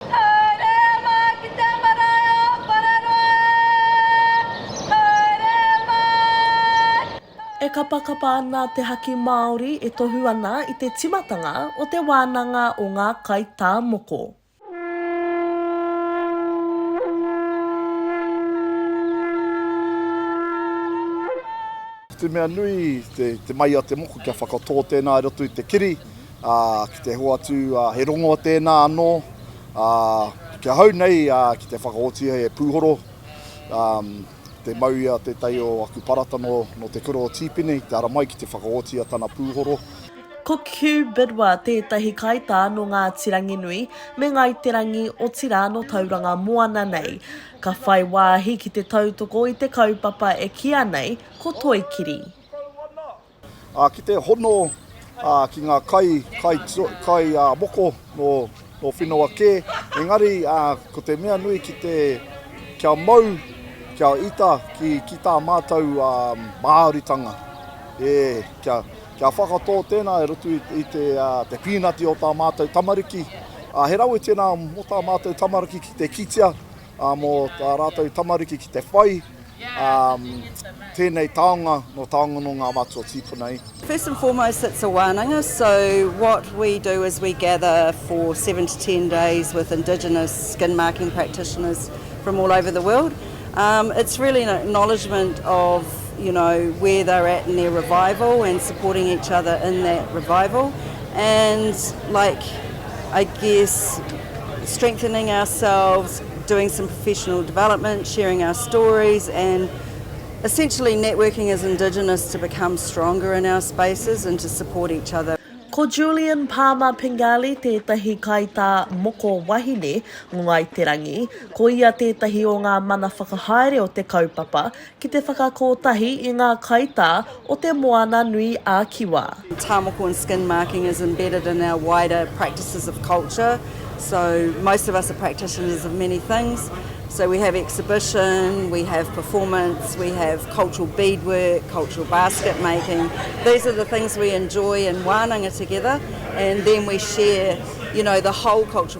Haere mā ki te marae o Whararoa e! Haere mā! E kapakapa ana te haki Māori e tohu ana i te timatanga o te wānanga o ngā kaitāmoko. Ko te mea nui, te mai a te moko kia whakatō tēnā i roto i te kiri. ā, ki te hoatu he rongo tēnā anō, ā, ki ahau nei ki te whakaotia e Pūhoro, ā, te mau i a Te Tai o aku parata nō, nō Te Kura o Tīpene i te ara mai ki te whakaotia tana pūhoro. Ko Hugh Bidwa tētahi kaitā nō Ngāti Ranginui me Ngāi Te Rangi otirā nō Tauranga Moana nei. Ka whai wāhi ki te tautoko i te kaupapa e kīa nei ko Toi Kiri. Ā, ki te hono ki ngā kai, kai, kai moko nō, nō Whinawa kē, engari ko te mea nui ki te, kia mau, kia ita ki, ki tā mātou Māoritanga. E, kia, kia whakatō tēnā e roto i, i te, te pīnati o tā mātou tamariki. Ā, he rawe tēnā mō tā mātou tamariki ki te kitea, mō tā rātou tamariki ki te whai tēnei taonga nō taonga nō ngā mātua tīpuna i. First and foremost it's a wānanga so what we do is we gather for seven to ten days with indigenous skin marking practitioners from all over the world. Um, it's really an acknowledgement of you know where they're at in their revival and supporting each other in that revival and like I guess strengthening ourselves, doing some professional development, sharing our stories, and essentially networking as Indigenous to become stronger in our spaces and to support each other. Ko Julian Palmer Pingali tētahi kaitā moko wahine o Ngāi Te Rangi. Ko ia tētahi o ngā mana whakahaere o te kaupapa, Ki te whakakotahi i ngā kaitā o Te Moana nui a Kiwa. Tā moko and skin marking is embedded in our wider practices of culture, so most of us are practitioners of many things, so we have exhibition, we have performance, we have cultural beadwork, cultural basket making, these are the things we enjoy and wānanga together and then we share you know the whole cultural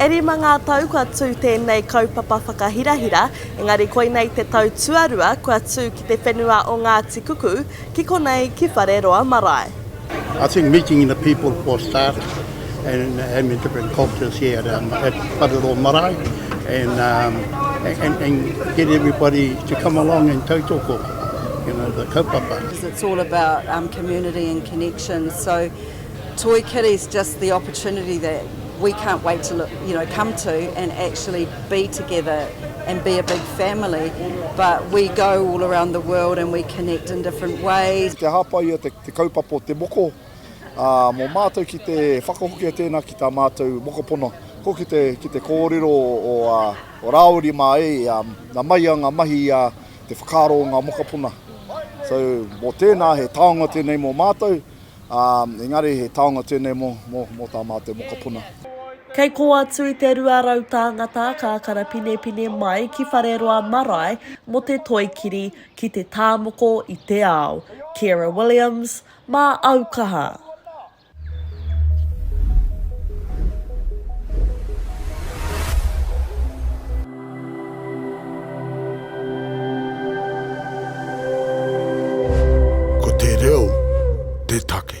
E rima ngā tau kua tū tēnei kaupapa whakahirahira, engari koinei te tau tuarua kua tū ki te whenua o Ngāti Kuku, ki konei ki Whareroa marae. I think meeting the people for a start and having different cultures here at um, at Whareroa marae and, um, and, and get everybody to come along and tautoko, you know, the kaupapa. Because it's all about um, community and connection. So Toi Kitties just the opportunity that we can't wait to look, you know, come to and actually be together and be a big family but we go all around the world and we connect in different ways. Kia hāpai ia te, te kaupapa o te moko ā, mō mātou ki te whakahokia tēnā ki tā mātou mokopono. Ko ki te, ki te kōrero o, o, ā, o Rāori mā e, ā, nā mai a ngā mahi ā, te whakaaro o ngā mokopuna. So, mō tēnā he taonga tēnei mō mātou, Ā, engari he taonga tēnei mō, mō, mō tā mātou mokopuna. Kei kō atu i te rua rau tāngata ka karapinepine mai ki Whareroa marae mō te toi kiri ki te tāmoko i te ao. Ciara Williams, Mā au kaha! Ko te reo te take.